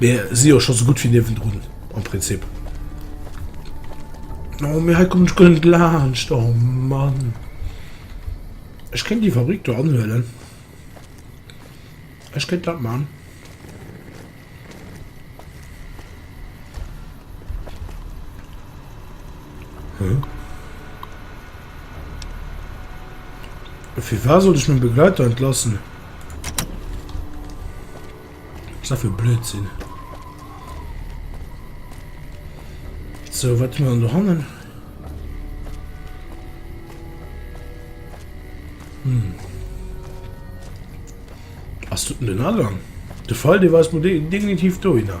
Mir si jo scho sou gutt wéi niewendrun am Prinzip. Oh, mee hei kommen ech guer net laanscht, oh Mann. Ech kéint déi Fabrik do anhuelen. Ech kéint dat man. Hm. Firwat sollt ech meng Begleiter entlassen? Wats dat fir Blödsinn. So wat man do hannen? Hm. Ass du den Agang? De Fall de war definitiv do hinnner.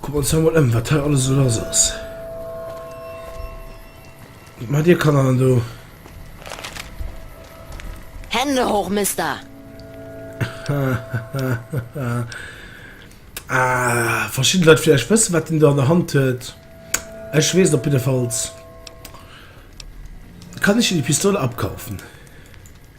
Kucken wir uns hei mol em, wat hei alles esou lass ass. Wat macht dir Kanner dann do? Hände hoch, Mister! Ah, verschidden Leit vielleicht wëssen, wat deen do an der Hand huet. Ech weess op jidde Falls. Kann ech dir déi Pistol abkaufen?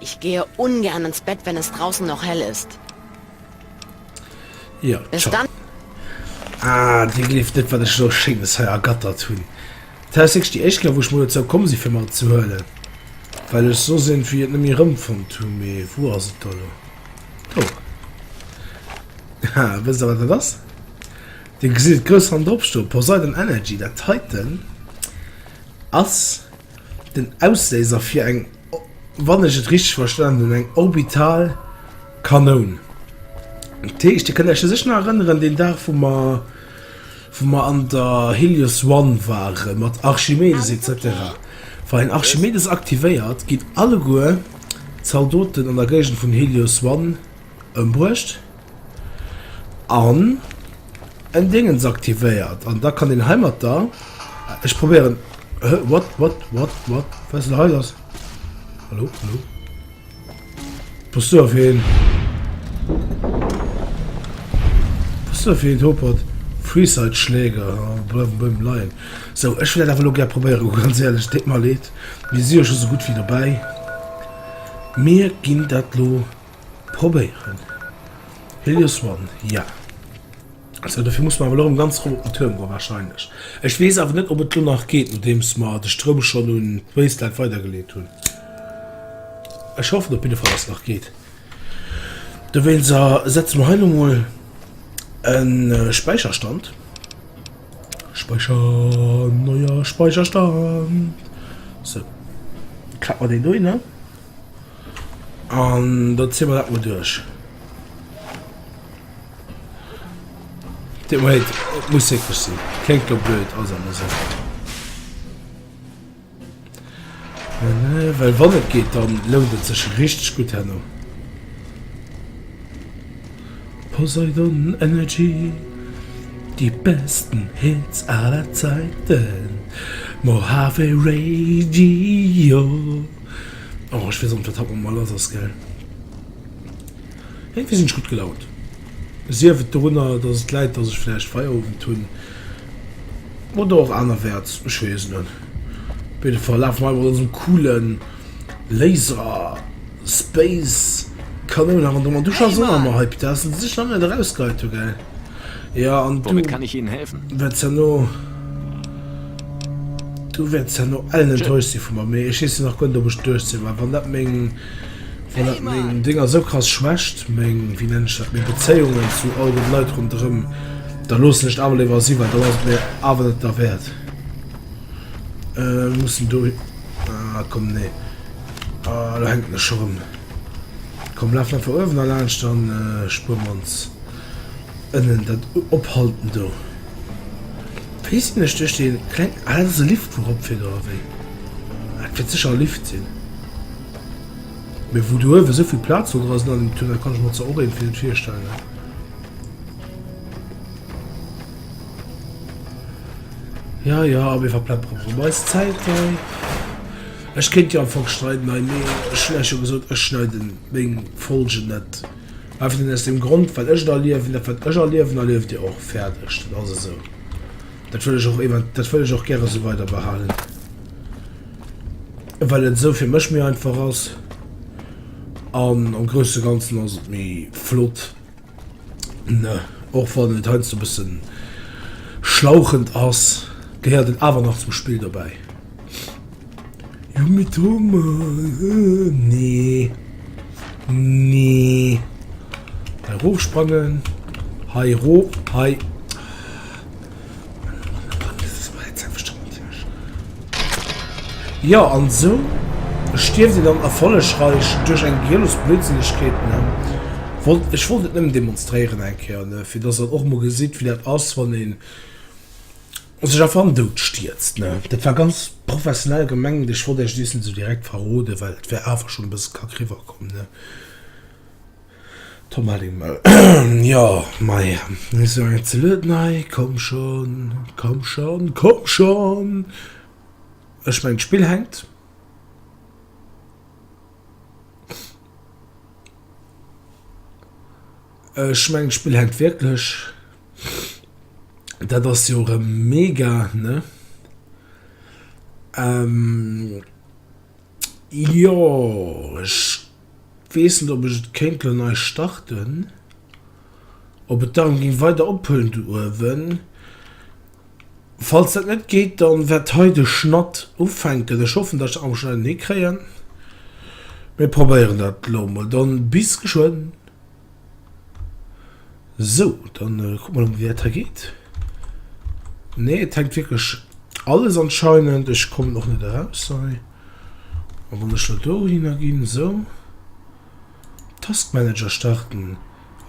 Ich gehe ungern ins Bett, wenn es draußen noch hell ist. Jo, Bis dann. Ah, Dir gleeft net, wat ech elo Schéines hei ergattert hunn. Dat ass wierklech déi éischt Kéier, wou ech mol dozou komm sinn, fir mat ze huelen, well ech soss iergendwéi et net méi erëmfonnt hunn. Mee wou ass et da elo? Do! Haha, wësst Der, wat dat ass? Dir gesitt et grouss ran dropstoe, Poseidon Energy. Dat heiten ass. Den Ausléiser fir eng, wann ech et richteg verstanen hunn, eng orbital Kanoun. Dat heescht, Dir kënnt Iech sécher nach erënneren, deen Dag, wou mer, wou mer an der Helios One waren, mat Archimedes et cetera. Wann een Archimedes aktivéiert, ginn alleguer d'Zaldoten an der Géigend vun Helios One ëmbruecht. An en Dingens aktivéiert. An da kann een heimatter, ech probéieren, hä, what, what, what, what, wat ass lo hei lass? Hallo, hallo? Pass du op hien. Pass du op hien, Topert. Freeside-Schläger, bleiwen bei him leien. Sou, ech wëll dat awer lo gär probéieren, hu, ganz éierlech, et deet mer leed, mir si jo scho sou gutt wéi dobäi. Mir ginn dat lo Probéieren. Helios One, jo. Also dofir muss mer awer elo erëm ganz erop op den Tuerm goen, wahrscheinlech. Ech weess awer net, ob et elo nach geet, nodeems mer de Stroum schonn un d'Wasteland weidergeleet hunn. Ech hoffen op jidde Fall, dass et nach geet. Dowéinst setze mer hei elo mol e Späicherstand. Späicher, neier Späicherstand. Sou, klappe mer deen dohinner. An da zie mer dat mol duerch. Dir Moied, et muss wierklech sinn. Kléngt lo blöd, ass awer esou. Well wann et geet, dann lount et sech richteg gutt herno. Poseidon Energy, déi besten Hits aller Zäiten. Mojave Radio. Oh ech weess och net wat haut mat mer lass ass gell. Iergendwéi sinn ech gutt gelaunt. Sief et dorunner dass et läit dass ech vläicht Feierowend hunn oder och anerwäerts, ech weess et net. Op jidde Fall lafe mer mat onsem coole Laser Space Kanoun nach an der Dusch a soen mer hei Pitessen, déi sech nach net erausgehäit hu gell. Ja, an du... Womit kann ich Ihnen helfen? Wäerts herno... Du wäerts herno ellen enttäuscht si vu mer, mee ech weess jo nach guer net, ob ech duerch si. Mä wann dat meng, wann dat meng Ding ass, esou krass schwächt, meng, wéi nennen ech dat, meng Bezéiungen zu all den Leit ronderëm, da loossen ech et awer léiwer si, well dann ass et mir awer net derwäert. Ech muss do. Ah, komm, nee. Ah, do hänken ech scho rëm. Komm, lafen einfach uewen erlaanscht, dann spueren mer ons. Ënnen dat ophalten do weess een ech duerch dee kleng, ah dat ass e Lift wou ropfir do ewéi, ah et wäert sécher e Lift sinn, mee wou do uewen esou vill Plaz no dra sinn an dem Tunnel kann ech mer zwar och eent fir virstellen. Ja ja mir verpleppere mer emmer eis Zäit hei, ech kéint jo am Fong schneiden hei mee ech hunn iech jo gesot ech schneiden meng Folgen net. Einfach nëmmen aus deem Grond, wat ech et erliewen. Dat, wat ech erliewen, erlieft Dir och. Fäerdeg. Dat ass esou. Dat wëll ech och ev. Dat wëll ech och gäre esou weiderbehalen, well et esou fir mech méi einfach ass. An am Grousse a Ganzen ass et méi flott, ne? Och wann et heiansdo e bësse schlauchend ass, gehéiert et awer nach zum Spill dobäi. Jo mee Thomas, nee nee hei roof sprangen hei roof hei. Jo an esou stierft een dann erfollegreich duerch eng gehirlos Blödsinnegkeet. Wollt ech wollt et nëmmen demonstréieren eng Kéier fir dass der och mol gesitt wéi dat ass wann een. sech einfach an Doud stierzt ne, dat war ganz professionell gemengt, ech wollt Äech dees net esou direkt verroden, well et wär awer schon e bësse kack riwwer komm ne, Tom Hellingmëll, jo mei ech soen Äech ze lued, nei komm schon, komm schon, komm schon, ech mengen d'Spill hänkt. Ech mengen d'Spill hänkt wierklech. Dat ass jo erëm mega, ne? Jo, ech weess net, ob ech et kéint elo nei starten. Ob et dann géing weider ophëllen do uewen. Falls dat net geet, da wäert hei de Schnatt ufänken. Ech hoffen, datt ech dat am Schnéi hinne kréien. Mir probéieren dat elo emol. Dann bis geschwënn. Sou, dann kuck mal wéi dat hei geet. Nee, et hängt wierklech alles anscheinend. Ech kommen och net eraus hei. A wann ech lo do hinner ginn, sou. Taskmanager starten.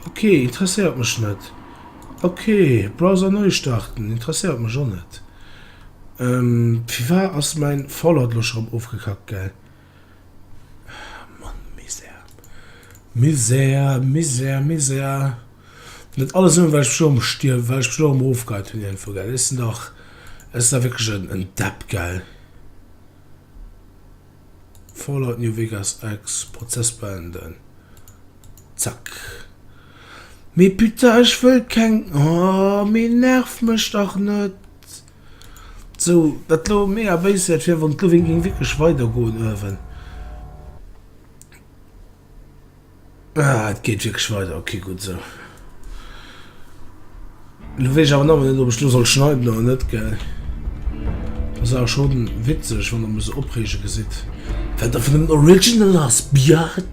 Ok, interesséiert mech net. Ok, Browser neu starten, interesséiert mech och net. Firwat ass mäin Fallout lo scho erëm ofgekackt, gell? Mann, Misär. Misär, Misär, Misär. Net alles nur, weil ich mich um stirb, weil ich mich um aufgehört hun irgendwo, gell. Ist denn dach, ist da wirklich en, en Depp, gell. Fallout New Vegas Ex, Prozess beenden. Zack. Mais putain, ich wëll keng, oh, mais nerv mech dach net. Sou dat lo mega béis wäert wier wann d'Loweng géing wierklech weider goen uewen. Ah et geet wierklech weider, ok gutt esou. Lo weess ech awer nawell net ob ech lo soll schneiden oder net gell. Ass awer schon witzeg wann der mech sou opreege gesitt. Well der vun den original ass biatch.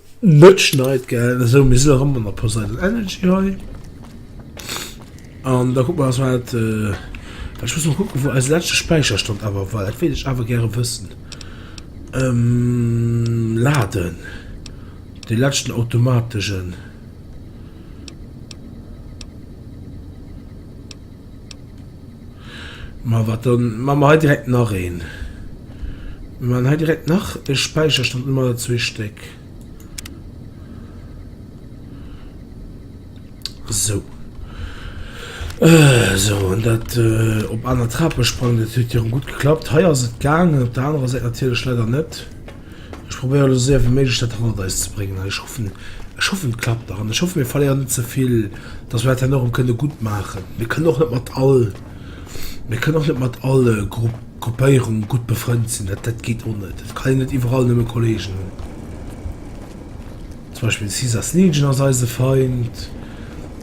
Net schneit gell esou mir sinn nach ëmmer an der Poseidon Energy hei an da kuck mer eis wat well ech muss mol kucken wou eise leschte Späicherstand awer war dat wéilt ech awer gäre wëssen laden dee leschten automategen. Ma wat dann man mer hei direkt nach een man hei direkt nach e Späicherstand immer zwee Stéck sou sou an dat op aner Trape sprangen. Dat huet hierëm gutt geklappt. Hei ass et gaangen op der anerer Säit natierlech leider net. Ech probéieren elo séier wéi méiglech dat hannert eis ze bréngen an ech hoffen, ech hoffen et klappt nach an ech hoffen mir verléieren net ze vill, dass mir dat dann och erëm kënne gutt maachen. Mir kënnen och net mat all, mir kënnen och net mat all Gru, Gruppéierung gutt befrënnt sinn, dat, dat geet och net. Et kann een net iwwerall nëmme Kolleegen hunn. Zum Beispill de Caesars Legion ass eise Feind.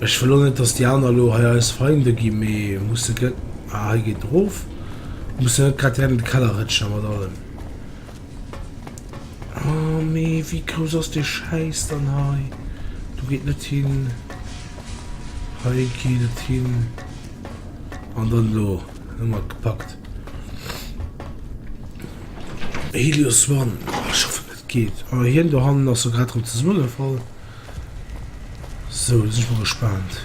Ech wëll och net, dass déi aner elo hei eis Feinde ginn, mee musse gëtt, ah hei geet erof, musse net grad direkt an de Keller rëtschen a mat allem. Oh mee wéi grouss ass dee Schäiss dann hei? Do geet net hin, hei geet et hin an dann elo hu mer et gepackt. Helios One, oh ech hoffen et geet. Oh hien dohannen ass sou grad rem zesummegefall. Sou da sinn ech mol gespaant.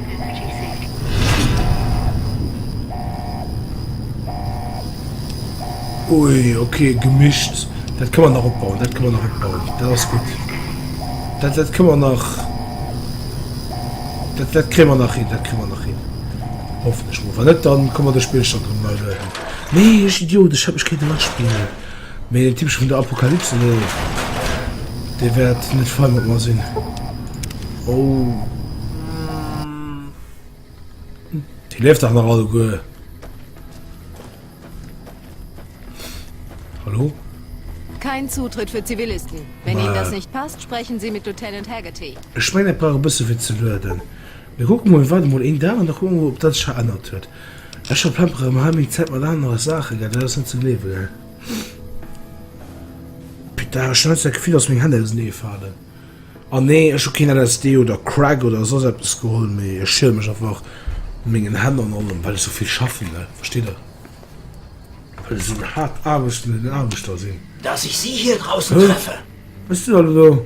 Ui ok gemischt dat kann man nach opbauen dat kann man nach opbauen dat ass gut dat dat kann man nach dat dat kre man nach hin dat kre man nach hin hoffen ech mo wann net dann kommmer de spill schon drin mal nee idiot ich hab mich kete nach spielen Mee den Typeche vun der Apokalypse do, dee wäert net fein mat mer sinn. Dee leeft dach nach alleguer. Hallo? Kein Zutritt für Zivilisten. Wenn Ihnen das nicht passt, sprechen Sie mit Lieutenant Haggerty. Ech mengen, dat brauch e bësse fir ze lueden. Mir kucke mol, waarde mol een Dag an da kucke mer mol, ob dat sech verännert huet. Ech verplemperen erëm hei meng Zäit mat anere Saachen, gell? Dat ass net ze gleewen, gell? Putain, ech hunn heiansdo dat Gefill, dass meng Hänn auseneeë falen. An nee, ech hu keen LSD oder Crack oder soss eppes geholl, mee ech schiele mech einfach u mengen Hänn an allem, well ech sou vill schaffen, gell? Versteet Der? Well ech sou en haart aarbechtenden Aarbechter sinn. Dass ech si hir draussen treffe. Hues du dat elo?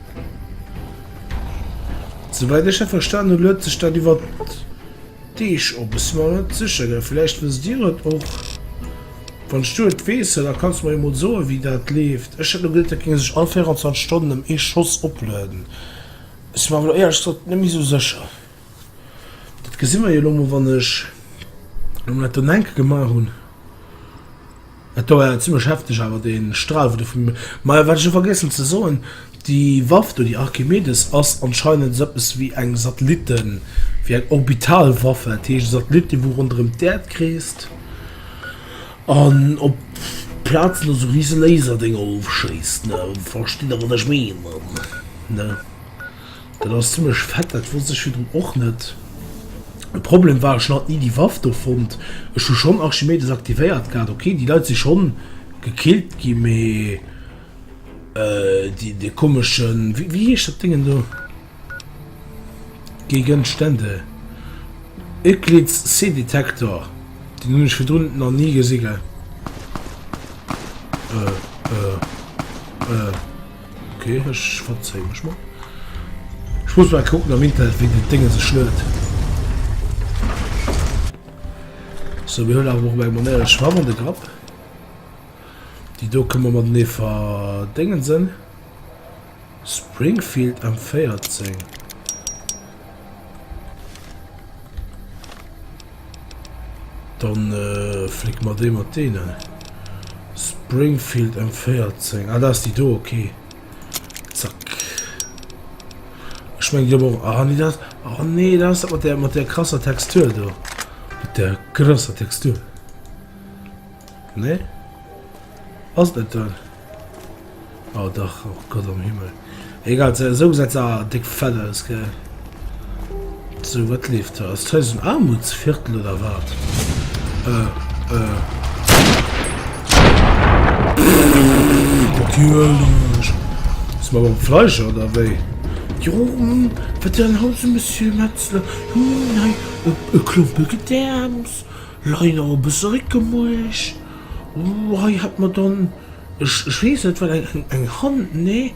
Souweit ech dat verstan hun huet sech dat iwwert Deeg op. Ech sin mer net secher gell vielleicht wësst dir et och. Wanns du et wees da kanns du mer jo mol soen wéi dat leeft. Ech hat lo geduet dat géing sech all 24 Stonnen em ee Schoss oplueden. Sin mer awer lo éierlech gesot net méi sou secher. Dat gesi mer jo elo mol, wann ech elo mol dat do enke gemaach hunn. Dat do war jo zimmlech hefteg awer, dee Stral, wou do vum. Majo, wat ech och vergiessen ze soen, déi Waff do, déi Archimedes, ass anscheinend esou eppes wéi eng Satellitten-, wéi eng Orbitalwaffe. Dat heescht, e Satellit, dee wou ronderëm d'Äerd kreest an op Plazen do esou rise Laserdinger ofschéisst, ne. Verstitt Der, wat ech meenen, ne? Dat ass zimlech fett, dat wosst ech virdrun och net. De Problem war ech hat ni déi Waff do fonnt. Ech hu schonn Archimedes aktivéiert gehat. Ok déi Leit si schonn gekillt gi mee déi dee komeschen, wéi heescht dat Déngen do? Gegenstände? Euclid's C-Detektor, deen hunn ech virdrun nach ni gesi gell. Äh äh äh. Ok ech verzéie mech mol. Ech muss mol kucken am Internet wéi dat Dénge sech luet. Sou mir huelen awer mol eng Manéier ech mache mol de Grapp. Déi do kënne mer matenee verdéngensen. Springfield M14. Dann äh, flick mer dee mat deenen. Springfield M14. Ah, da ass déi do, okay. Zack. Ech meng jo och. Ah, nee, dat. Ah, nee, dat ass mat der, mat der krasser Textur do. Mat der krasser Textur. Nee? Ass et net dëll? Oh dach, och Gott am Himmel. Egal, se esou gesäit se awer déck fett aus, gell? Sou, wat leeft do? Ass d'Haus en Armutsviertel oder wat? Äh, äh. Natierlech! Sinn mer beim Fleischer oder wéi? Jo, hm, wat fir en Haus, Monsieur Metzler? Hm, hei, e Klompe Gedäerms. Lei nach e bësse Réck gemuecht. Ooh, hei hätt mer dann, ech, ech weess net wat, eng, eng Hand? Nee,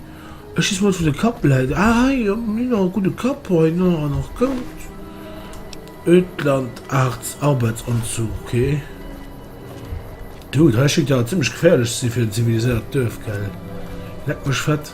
ech schiessen mol, wou de Kapp läit. Ah, hei, jo, jo, nach e gudde Kapp hei, no, an nach goud. Ödlandarts Arbeitsanzug, okay. Dude, hei schéngt awer zimmlech geféierlech ze si fir en ziviliséiert Duerf, gell? Leck mech fett.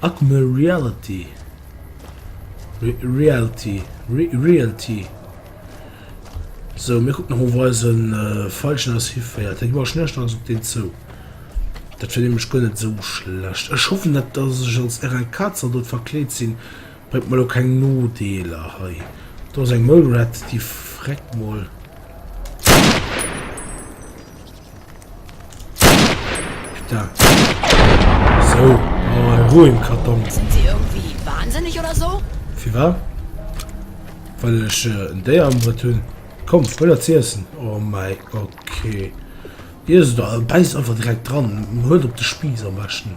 Augmented reality, realty, realty, sou mir kucken nach of eisen Feilchen eis hiféiert. Hei war ech näischt anescht op deen zou. Dat wier nämlech guer net sou schlecht. Ech hoffen net dass ech als RL Kaatzer dodd verkleet sinn Huet mol o keng Nodeeler hei. Do ass eng Mole Rat, déi freckt mol. Putain. So, oh, hei hu en Karton. Sinn si iergendwéi wahnsinneg oder so? Firwat? Well ech en Déier am Brëtt hunn? Komm, huel der z'iessen. Oh mäi Gott, okay. Iess et, bäisst einfach direkt dran. Huel op de Spiiss am beschten.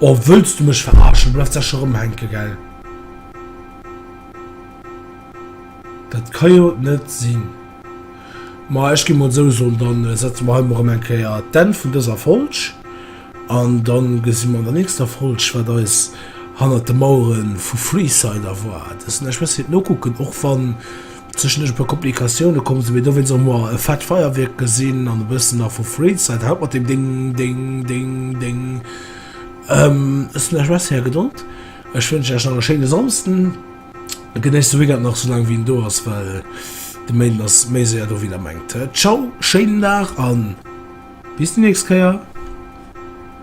Oh wëlls du mech verarschen? Du bleifs da scho rëmhänke gell? Dat ka jo net sinn. Ma ech gi mol sou soen, dann setze mer hei mol rëm eng Kéier d'Enn vun dëser Folg an dann gesi mer an der nächster Folg wat eis hannert de Mauere vu Freeside erwaart. Ech muss et nokucken och wann. Zwischendurch e puer Komplikatiounen kommen sin, mee dowéinst och mol e fett Feierwierk gesin an e bëssen nach vu Freeside. Haut mat dem Ding Ding Ding Ding. Ehm ech sin lech merci är Gedold. Ech wënschen lech nach e schéine Samsden. Genéisst de Weekend nach sou lang wéi en do ass, well de Méinden ass méi séier do wéi der mengt. Ciao, schéinen Dag an bis déi nächst Kéier.